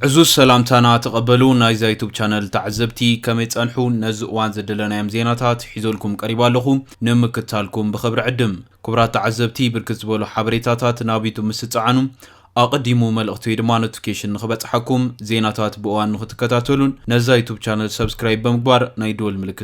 ዕዙዝ ሰላምታና ተቐበሉ ናይዛ ዩቱብ ቻነል ተዓዘብቲ ከመይ ጸንሑ ነዚ እዋን ዘደለናዮም ዜናታት ሒዘልኩም ቀሪባ ኣለኹ ንምክታልኩም ብኽብሪ ዕድም ክቡራት ተዓዘብቲ ብርክት ዝበሉ ሓበሬታታት ናብ ዩቱብ ምስ ትጸዓኑ ኣቐዲሙ መልእኽቲ ወይ ድማ ኖቲፊኬሽን ንኽበጽሓኩም ዜናታት ብእዋን ንኽትከታተሉን ነዛ ዩቱብ ቻነል ሰብስክራይብ ብምግባር ናይ ደወል ምልክት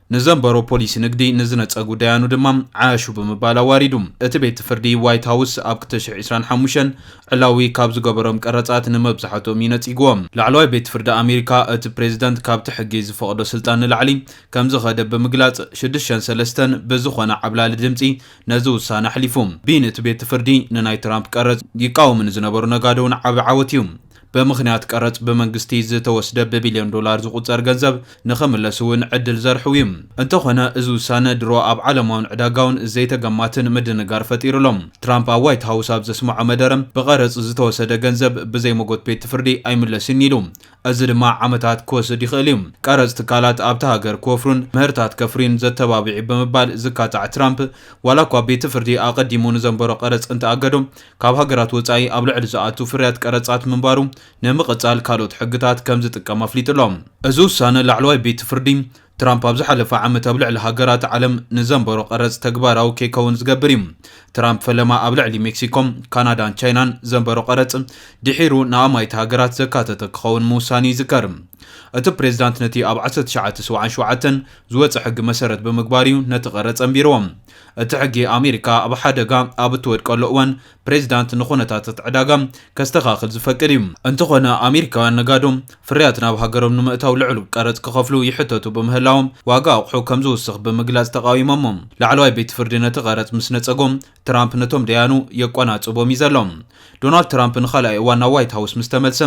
ንዘንበሮ ፖሊሲ ንግዲ ንዝነጸጉ ዳያኑ ድማ ዓያሹ ብምባል ኣዋሪዱ። እቲ ቤት ፍርዲ ዋይት ሃውስ ኣብ ክልተ ሽሕ ዕስራን ሓሙሽተን ዕላዊ ካብ ዝገበሮም ቀረጻት ንመብዛሕትኦም እዩ ነጺግዎ። ላዕለዋይ ቤት ፍርዲ ኣሜሪካ እቲ ፕሬዝደንት ካብቲ ሕጊ ዝፈቕዶ ስልጣን ንላዕሊ ከምዝኸደ ብምግላጽ ሽዱሽተ ሰለስተ ብዝኾነ ዓብላሊ ድምጺ ነዚ ውሳነ ኣሕሊፉ። ብይን እቲ ቤት ፍርዲ ንናይ ትራምፕ ቀረጽ ይቃወሙ ንዝነበሩ ነጋዶ'ውን ዓቢ ዓወት እዩ። ብምኽንያት ቀረጽ ብመንግስቲ ዝተወስደ ብቢልዮን ዶላር ዝቑጸር ገንዘብ ንኽምለስ'ውን ዕድል ዘርሕው'ዩ። እንተኾነ እዚ ውሳነ ድሮ ኣብ ዓለማውን ዕዳጋውን ዘይተገማትን ምድንጋር ፈጢሩ ኣሎ። ትራምፕ ኣብ ዋይት ሃውስ ኣብ ዘስመዖ መደረ፣ ብቐረጽ ዝተወሰደ ገንዘብ ብዘይ መጎት ቤት ፍርዲ ኣይምለስን'ዩ ኢሉ። እዚ ድማ ዓመታት ክወስድ ይኽእል'ዩ። ቀረጽ ትካላት ኣብታ ሃገር ክወፍሩን ምህርታት ከፍርዩን ዘተባብዕ'ዩ ብምባል ዝካታዕ ትራምፕ፣ ዋላ'ኳ ቤትፍርዲ ኣቐዲሙ ንዘንበሮ ቀረጽ እንተኣገዶ፣ ካብ ሃገራት ወጻኢ ኣብ ልዕሊ ዝኣቱ ፍርያት ቀረጻት ምንባሩ ንምቕጻል ካልኦት ሕግታት ከም ዝጥቀም ኣፍሊጡ ኣሎ። እዚ ውሳነ ላዕለዋይ ቤት ፍርዲ፣ ትራምፕ ኣብ ዝሓለፈ ዓመት ኣብ ልዕሊ ሃገራት ዓለም ንዘንበሮ ቀረጽ ተግባራዊ ከይከውን ዝገብር እዩ። ትራምፕ ፈለማ ኣብ ልዕሊ ሜክሲኮ፣ ካናዳን ቻይናን ዘንበሮ ቀረጽ ድሒሩ ንኣማኢት ሃገራት ዘካተተ ክኸውን ምውሳኑ ይዝከር። እቲ ፕሬዝዳንት ነቲ ኣብ ዓሰርተ ትሽዓተ ሰብዓን ሸውዓተን ዝወጸ ሕጊ መሰረት ብምግባር እዩ ነቲ ቀረጽ ኣንቢርዎ። እቲ ሕጊ ኣሜሪካ ኣብ ሓደጋ ኣብ እትወድቀሉ እዋን ፕሬዚዳንት ንኹነታት እቲ ዕዳጋ ከስተኻኽል ዝፈቅድ እዩ። እንተኾነ ኣሜሪካውያን ነጋዶ ፍርያት ናብ ሃገሮም ንምእታው ልዑል ቀረፅ ክኸፍሉ ይሕተቱ ብምህላዎም ዋጋ ኣቑሑ ከም ዝውስኽ ብምግላፅ ተቓዊሞሞ። ላዕለዋይ ቤት ፍርዲ ነቲ ቀረፅ ምስ ነፀጎ ትራምፕ ነቶም ደያኑ የቆናፅቦም እዩ ዘሎ። ዶናልድ ትራምፕ ንኻልኣይ እዋን ናብ ዋይት ሃውስ ምስ ተመልሰ፣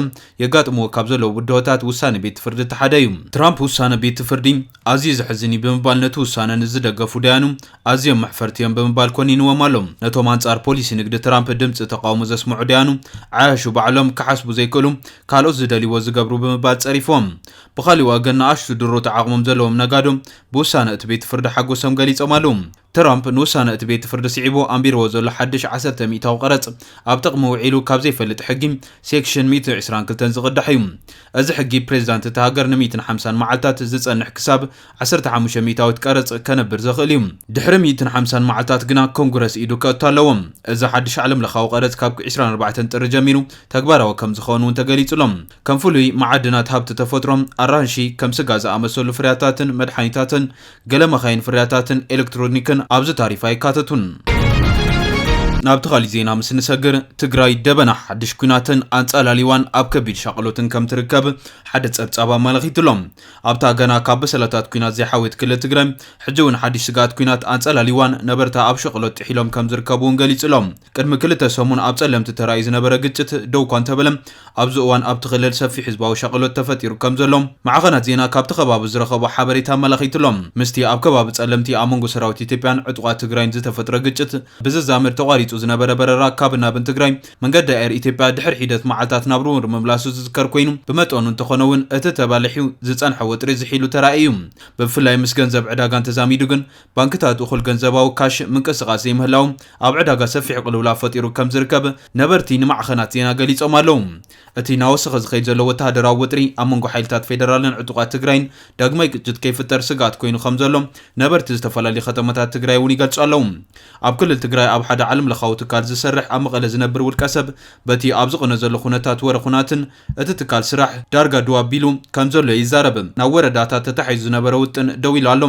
የጋጥምዎ ካብ ዘለዉ ብድሆታት ውሳነ ቤት ፍርዲ እቲ ሓደ እዩ። ትራምፕ ውሳነ ቤት ፍርዲ ኣዝዩ ዘሕዝን እዩ ብምባል ነቲ ውሳነ ንዝደገፉ ዳያኑ ኣዝዮም መሕፈርቲ እዮም ብምባል ኮኒንዎም ኣሎ። ነቶም ኣንጻር ፖሊሲ ንግዲ ትራምፕ ድምጺ ተቓውሞ ዘስምዑ ዳያኑ፣ ዓያሹ ባዕሎም ክሓስቡ ዘይክእሉ፣ ካልኦት ዝደልይዎ ዝገብሩ ብምባል ጸሪፍዎም። ብኻልእ ወገን ንኣሽቱ ድሩት ዓቕሞም ዘለዎም ነጋዶ ብውሳነ እቲ ቤት ፍርዲ ሓጎሶም ገሊጾም ኣለዉ። ትራምፕ ንውሳነ እቲ ቤት ፍርዲ ስዒቡ ኣንቢርዎ ዘሎ ሓድሽ ዓሰርተ ሚእታዊ ቀረጽ፣ ኣብ ጥቕሚ ውዒሉ ካብ ዘይፈልጥ ሕጊ ሴክሽን ሚእትን ዕስራን ክልተን ዝቕዳሕ እዩ። እዚ ሕጊ፣ ፕሬዚዳንት እታ ሃገር ንሚእትን ሓምሳን መዓልታት ዝጸንሕ ክሳብ ዓሰርተ ሓሙሽተ ሚእታዊት ቀረጽ ከነብር ዘኽእል እዩ። ድሕሪ ሚእትን ሓምሳን መዓልታት ግና ኮንግረስ ኢዱ ከእቱ ኣለዎ። እዚ ሓድሽ ዓለምለኻዊ ቀረጽ ካብ ዕስራን ኣርባዕተን ጥሪ ጀሚሩ ተግባራዊ ከም ዝኸውን እውን ተገሊጹ ኣሎ። ከም ፍሉይ መዓድናት፣ ሃብቲ ተፈጥሮ፣ ኣራንሺ፣ ከም ስጋ ዝኣመሰሉ ፍርያታትን መድሓኒታትን፣ ገለ መኻይን ፍርያታትን ኤሌክትሮኒክን ኣብዚ ታሪፍ ኣይካተቱን። ናብቲ ካሊእ ዜና ምስ ንሰግር፣ ትግራይ ደበና ሓድሽ ኲናትን ኣንጻላልዋን ኣብ ከቢድ ሻቕሎትን ከም ትርከብ ሓደ ጸብጻብ ኣመላኺቱ ኣሎ። ኣብታ ገና ካብ በሰላታት ኲናት ዘይሓወየት ክልል ትግራይ፣ ሕጂ እውን ሓድሽ ስግኣት ኲናት ኣንጻላልዋን ነበርታ ኣብ ሸቕሎት ጥሒሎም ከም ዝርከቡ እውን ገሊጹ ኣሎ። ቅድሚ ክልተ ሰሙን ኣብ ፀለምቲ ተራእዩ ዝነበረ ግጭት ደውኳ እንተበለ ኣብዚ እዋን ኣብቲ ክልል ሰፊሕ ህዝባዊ ሻቕሎት ተፈጢሩ ከምዘሎ ማዕኸናት ዜና ካብቲ ከባቢ ዝረኸቦ ሓበሬታ ኣመላኺቱ'ሎ። ምስቲ ኣብ ከባቢ ፀለምቲ ኣብ መንጎ ሰራዊት ኢትዮጵያን ዕጡቓት ትግራይን ዝተፈጥረ ግጭት ብዝዛመድ ተቋሪፁ ዝነበረ በረራ ካብን ናብን ትግራይ መንገዲ ኣየር ኢትዮጵያ ድሕሪ ሒደት መዓልታት ናብ ርውር ምምላሱ ዝዝከር ኮይኑ ብመጠኑ እንተኾነ'ውን እቲ ተባሊሑ ዝፀንሐ ወጥሪ ዝሒሉ ተራእዩ። ብፍላይ ምስ ገንዘብ ዕዳጋን ተዛሚዱ ግን ባንክታት እኹል ገንዘባዊ ካሽ ምንቅስቓስ ዘይምህላዉ ኣብ ዕዳጋ ሰፊሕ ቅልውላው ፈጢሩ ከም ዝርከብ ነበርቲ ንማዕኸናት ዜና ገሊጾም ኣለዉ። እቲ እናወሰኸ ዝኸይድ ዘሎ ወተሃደራዊ ወጥሪ ኣብ መንጎ ሓይልታት ፌደራልን ዕጡቓት ትግራይን ዳግማይ ግጭት ከይፍጠር ስግኣት ኮይኑ ከም ዘሎ ነበርቲ ዝተፈላለዩ ከተማታት ትግራይ እውን ይገልጹ ኣለዉ። ኣብ ክልል ትግራይ ኣብ ሓደ ዓለምለኻዊ ትካል ዝሰርሕ ኣብ መቐለ ዝነብር ውልቀሰብ በቲ ኣብ ዝቕነ ዘሎ ኩነታት ወረ ኩናትን እቲ ትካል ስራሕ ዳርጋ ድው ኣቢሉ ከምዘሎ ይዛረብ። ናብ ወረዳታት ተታሒዙ ዝነበረ ውጥን ደው ኢሉ ኣሎ።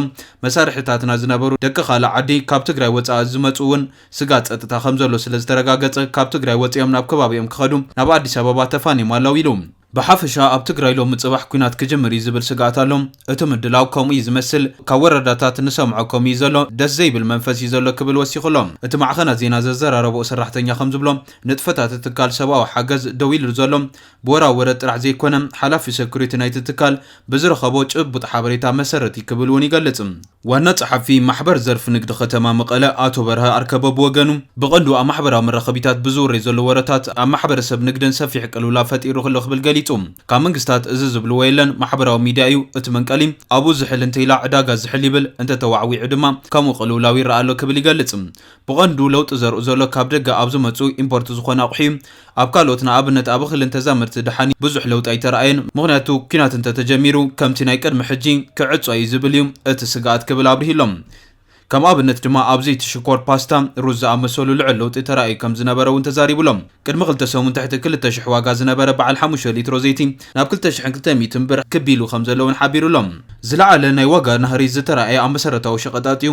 መሳርሒታትና ዝነበሩ ደቂ ካልእ ዓዲ ካብ ትግራይ ወፃኢ ዝመፅኡ እውን ስግኣት ፀጥታ ከምዘሎ ስለዝተረጋገፀ ካብ ትግራይ ወፂኦም ናብ ከባቢኦም ክኸዱ ናብ ኣዲስ ኣበባ ተፋንዮም ኣለው ኢሉ። ብሓፈሻ ኣብ ትግራይ ሎሚ ፅባሕ ኲናት ክጅምር እዩ ዝብል ስግኣት ኣሎ። እቲ ምድላው ከምኡ እዩ ዝመስል። ካብ ወረዳታት ንሰምዖ ከምኡ እዩ ዘሎ። ደስ ዘይብል መንፈስ እዩ ዘሎ ክብል ወሲኹ ኣሎ። እቲ ማዕኸናት ዜና ዘዘራረበኦ ሰራሕተኛ ከምዝብሎ፣ ንጥፈታት ትካል ሰብኣዊ ሓገዝ ደው ኢሉ ዘሎ ብወራ ወረ ጥራሕ ዘይኮነ ሓላፊ ሰኩሪቲ ናይቲ ትካል ብዝረኸቦ ጭቡጥ ሓበሬታ መሰረት እዩ ክብል እውን ይገልፅ። ዋና ፀሓፊ ማሕበር ዘርፊ ንግዲ ከተማ መቐለ ኣቶ በርሀ ኣርከበ ብወገኑ ብቐንዱ ኣብ ማሕበራዊ መራኸቢታት ብዝውረይ ዘሎ ወረታት ኣብ ማሕበረሰብ ንግደን ሰፊሕ ቅልውላው ፈጢሩ'ሎ ክብል ገሊፁ። ካብ መንግስታት እዚ ዝብልዎ የለን ማሕበራዊ ሚድያ እዩ እቲ መንቀሊ ኣብኡ ዝሕል እንተይላ ዕዳጋ ዝሕል ይብል እንተተዋዕዊዑ ድማ ከምኡ ቅልውላው ይረኣ ኣሎ ክብል ይገልፅ። ብቐንዱ ለውጢ ዘርኡ ዘሎ ካብ ደገ ኣብ ዝመጹ ኢምፖርት ዝኾኑ ኣቑሑ'ዩ። ኣብ ካልኦት ንኣብነት ኣብ እኽልን ተዛመድቲ ደሓን ብዙሕ ለውጢ ኣይተርኣየን። ምኽንያቱ ኲናት እንተተጀሚሩ ከምቲ ናይ ቅድሚ ሕጂ ክዕጾ'ዩ ዝብል'ዩ እቲ ስግኣት ክብል ኣብሪሁ'ሎ። ከም ኣብነት ድማ ኣብ ዘይቲ ሽኮር፣ ፓስታ፣ ሩዝ ዝኣመሰሉ ልዑል ለውጢ ተራእዩ ከም ዝነበረ'ውን ተዛሪቡ'ሎ። ቅድሚ ክልተ ሰሙን ትሕቲ ክልተ ሽሕ ዋጋ ዝነበረ በዓል ሓሙሽተ ሊትሮ ዘይቲ ናብ ክልተ ሽሕን ክልተ ሚእትን ብር ክብ ኢሉ ከም ዘሎ'ውን ሓቢሩ'ሎ። ዝለዓለ ናይ ዋጋ ናህሪ ዝተራእየ ኣብ መሰረታዊ ሸቐጣት'ዩ።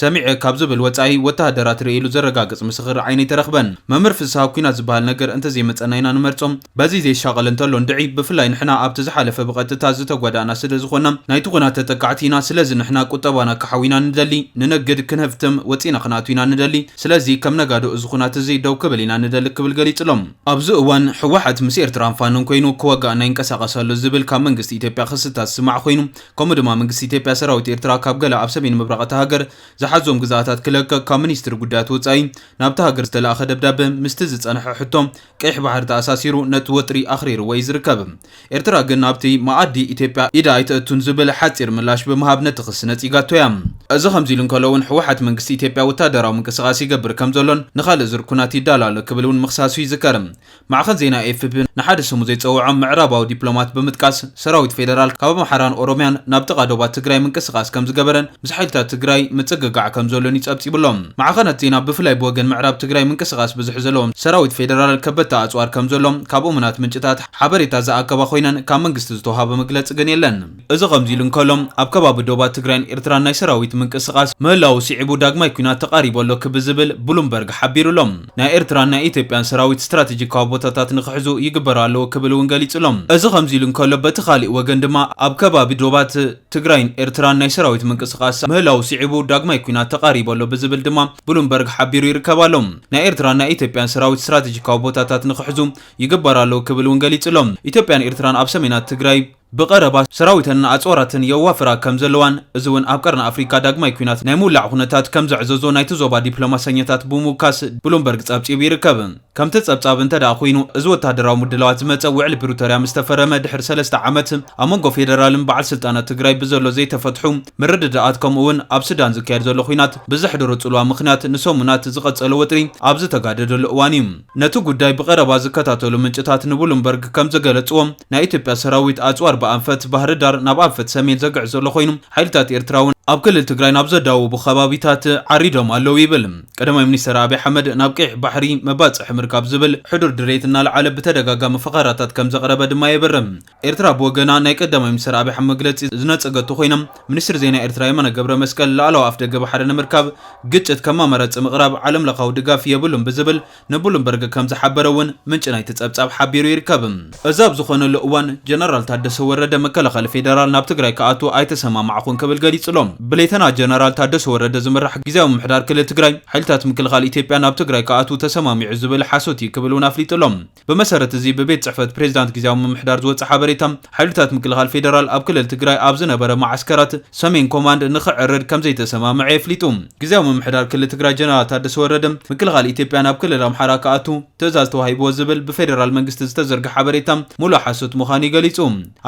ሰሚዐ ካብ ዝብል ወጻኢ ወተሃደራት ርእየ ኢሉ ዘረጋግጽ ምስኽር ዓይኒ ኣይተረኽበን። መምህር ፍስሃ ኩናት ዝበሃል ነገር እንተዘይመጸና ኢና ንመርጾ። በዚ ዘይሻቐል እንተሎ እንድዒ። ብፍላይ ንሕና ኣብቲ ዝሓለፈ ብቐጥታ ዝተጓዳእና ስለዝኾና ናይቲ ኩናት ተጠቃዕቲ ኢና። ስለዚ ንሕና ቁጠባና ክሓዊ ኢና ንደሊ። ንነግድ፣ ክንሀፍትም፣ ወጺእና ክንኣቱ ኢና ንደሊ። ስለዚ ከም ነጋዶ እዚ ኩናት እዚ ደው ክብል ኢና ንደሊ ክብል ገሊጹሎም። ኣብዚ እዋን ህወሓት ምስ ኤርትራን ፋኖን ኮይኑ ክዋጋኣና ይንቀሳቐስ ኣሎ ዝብል ካብ መንግስቲ ኢትዮጵያ ክስታት ዝስማዕ ኮይኑ፣ ከምኡ ድማ መንግስቲ ኢትዮጵያ ሰራዊት ኤርትራ ካብ ገለ ኣብ ሰሜን ምብራቕ እታ ሃገር ዝሓዞም ግዝኣታት ክለቅቕ ካብ ሚኒስትሪ ጉዳያት ወጻኢ ናብታ ሃገር ዝተላእከ ደብዳበ ምስቲ ዝጸንሐ ሕቶ ቀይሕ ባሕሪ ተኣሳሲሩ ነቲ ወጥሪ ኣኽሪርዎ እዩ ዝርከብ። ኤርትራ ግን ናብቲ መኣዲ ኢትዮጵያ ኢዳ ኣይተእቱን ዝብል ሓጺር ምላሽ ብምሃብ ነቲ ክሲ ነጺጋቶ እያ። እዚ ከምዚ ኢሉ እንከሎ እውን ህወሓት መንግስቲ ኢትዮጵያ ወታደራዊ ምንቅስቓስ ይገብር ከምዘሎን ንኻልእ ዙር ኵናት ይዳሎ ኣሎ ክብል እውን ምኽሳሱ ይዝከር። ማዕኸን ዜና ኤፍፒ ንሓደ ስሙ ዘይጸውዖም ምዕራባዊ ዲፕሎማት ብምጥቃስ፣ ሰራዊት ፌደራል ካብ ኣምሓራን ኦሮምያን ናብ ጥቓ ዶባት ትግራይ ምንቅስቓስ ከምዝገበረን ምስ ሓይልታት ትግራይ ምጽግጋዕ ከምዘሎን'ዩ ጸብጺቡ'ሎ። ማዕኸናት ዜና ብፍላይ ብወገን ምዕራብ ትግራይ ምንቅስቓስ ብዝሒ ዘለዎም ሰራዊት ፌደራል ከበድቲ ኣጽዋር ከምዘሎ ካብ እሙናት ምንጭታት ሓበሬታ ዝኣከባ ኮይነን ካብ መንግስቲ ዝተውሃበ መግለጺ ግን የለን። እዚ ከምዚ'ሉ እንከሎ፣ ኣብ ከባቢ ዶባት ትግራይን ኤርትራን ናይ ሰራዊት ምንቅስቓስ ምህላዉ ስዒቡ ዳግማይ ኲናት ተቓሪቡ ኣሎ ክብ ዝብል ብሉምበርግ ሓቢሩ'ሎ። ናይ ኤርትራን ናይ ኢትዮጵያን ሰራዊት ስትራተጂካዊ ቦታታት ንኽሕዙ ይግበሩ ኣለዉ ክብል እውን ገሊጹ'ሎ። እዚ ከምዚ'ሉ እንከሎ፣ በቲ ካሊእ ወገን ድማ ኣብ ከባቢ ዶባት ትግራይን ኤርትራን ናይ ሰራዊት ምንቅስቓስ ምህላዉ ስዒቡ ዳግማይ ኲናት ተቓሪቡ ኣሎ ብዝብል ድማ ብሉምበርግ ሓቢሩ ይርከብ ኣሎ። ናይ ኤርትራን ናይ ኢትዮጵያን ሰራዊት ስትራተጂካዊ ቦታታት ንኽሕዙ ይግበሩ ኣለዉ ክብል እውን ገሊጹ'ሎ። ኢትዮጵያን ኤርትራን ኣብ ሰሜናት ትግራይ ብቐረባ ሰራዊተንን ኣጽዋራትን የዋፍራ ከም ዘለዋን እዚ'ውን ኣብ ቀርኒ ኣፍሪቃ ዳግማይ ኲናት ናይ ምውላዕ ኩነታት ከም ዘዕዘዞ ናይቲ ዞባ ዲፕሎማሰኛታት ብምውካስ ብሉምበርግ ጸብጺቡ ይርከብ። ከምቲ ጸብጻብ እንተደኣ ኮይኑ እዚ ወተሃደራዊ ምድላዋት ዝመጸ ውዕሊ ፕሪቶርያ ምስ ተፈረመ ድሕሪ ሰለስተ ዓመት ኣብ መንጎ ፌደራልን በዓል ስልጣናት ትግራይ ብዘሎ ዘይተፈትሑ ምርድዳኣት ከምኡ'ውን ኣብ ሱዳን ዝካየድ ዘሎ ኲናት ብዘሕደሮ ጽልዋ ምኽንያት ንሰሙናት ዝቐጸለ ወጥሪ ኣብ ዝተጋደደሉ እዋን'ዩ ነቲ ጉዳይ ብቐረባ ዝከታተሉ ምንጭታት ንቡሉምበርግ ከም ዝገለጽዎ፣ ናይ ኢትዮጵያ ሰራዊት ኣጽዋር ብኣንፈት ባህርዳር ናብ ኣንፈት ሰሜን ዘግዕዝ ዘሎ ኮይኑ፣ ሓይልታት ኤርትራ'ውን ኣብ ክልል ትግራይ ናብ ዘዳውቡ ከባቢታት ዓሪዶም ኣለው ይብል። ቀዳማይ ሚኒስተር ኣብይ ኣሕመድ ናብ ቀይሕ ባሕሪ መባጽሒ ምርካብ ዝብል ሕዱር ድሌት እናልዓለ ብተደጋጋሚ ፈኸራታት ከም ዘቕረበ ድማ የብርህ። ኤርትራ ብወገና ናይ ቀዳማይ ሚኒስተር ኣብይ ኣሕመድ መግለጺ ዝነጸገቶ ኮይና፣ ሚኒስትር ዜና ኤርትራ የማነ ገብረመስቀል ላእላዊ ኣፍደገ ባሕሪ ንምርካብ ግጭት ከም ኣማራጺ ምቕራብ ዓለምለኻዊ ድጋፍ የብሉን ብዝብል ንብሉምበርግ ከም ዝሓበረ እውን ምንጪ ናይቲ ጸብጻብ ሓቢሩ ይርከብ። እዚ ኣብ ዝኾነሉ እዋን ጀነራል ታደሰ ወረደ መከላኸሊ ፌደራል ናብ ትግራይ ክኣቱ ኣይተሰማማዕኹን ክብል ገሊጹ ኣሎ። ብሌተና ጀነራል ታደሰ ወረደ ዝምራሕ ግዝያዊ ምምሕዳር ክልል ትግራይ ሓይልታት ምክልኻል ኢትዮጵያ ናብ ትግራይ ክኣትዉ ተሰማሚዑ ዝብል ሓሶት እዩ ክብል እውን ኣፍሊጡ ኣሎ። ብመሰረት እዚ ብቤት ፅሕፈት ፕሬዚዳንት ጊዚያዊ ምምሕዳር ዝወፀ ሓበሬታ ሓይልታት ምክልኻል ፌዴራል ኣብ ክልል ትግራይ ኣብ ዝነበረ መዓስከራት ሰሜን ኮማንድ ንክዕርድ ከምዘይተሰማምዐ የፍሊጡ። ጊዚያዊ ምምሕዳር ክልል ትግራይ ጀነራል ታደሰ ወረደ ምክልኻል ኢትዮጵያ ናብ ክልል ኣምሓራ ክኣቱ ትእዛዝ ተዋሂብዎ ዝብል ብፌዴራል መንግስቲ ዝተዘርገሐ ሓበሬታ ሙሉእ ሓሶት ምዃኑ እዩ ገሊፁ።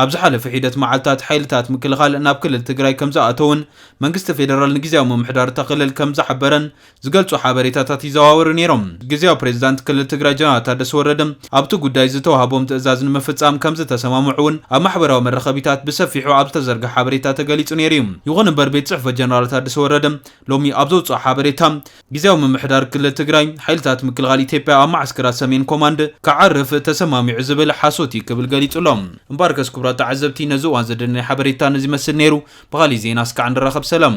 ኣብ ዝሓለፈ ሒደት መዓልታት ሓይልታት ምክልኻል ናብ ክልል ትግራይ ከምዝኣተውን መንግስቲ ፌዴራል ንጊዚያዊ ምምሕዳር እታ ክልል ከምዝሓበረን ዝገልጹ ሓበሬታታት ይዘዋወሩ ነይሮም። ግዝያዊ ፕሬዚዳንት ክልል ትግራይ ጀነራል ታደሰ ወረደ ኣብቲ ጉዳይ ዝተውሃቦም ትእዛዝ ንምፍፃም ከምዝተሰማምዑ እውን ኣብ ማሕበራዊ መራኸቢታት ብሰፊሑ ኣብ ዝተዘርገሐ ሓበሬታ ተገሊፁ ነይሩ እዩ። ይኹን እምበር ቤት ፅሕፈት ጀነራል ታደሰ ወረደ ሎሚ ኣብ ዘውፅኦ ሓበሬታ ግዝያዊ ምምሕዳር ክልል ትግራይ ሓይልታት ምክልኻል ኢትዮጵያ ኣብ መዓስከራት ሰሜን ኮማንድ ክዓርፍ ተሰማሚዑ ዝብል ሓሶት እዩ ክብል ገሊፁ ኣሎ። እምበኣርከስ ክቡራት ተዓዘብቲ ነዚ እዋን ዘደለናዮ ሓበሬታ ነዚ ይመስል ነይሩ። ብኻሊእ ዜና እስካዕ ንራኸብ ሰላም።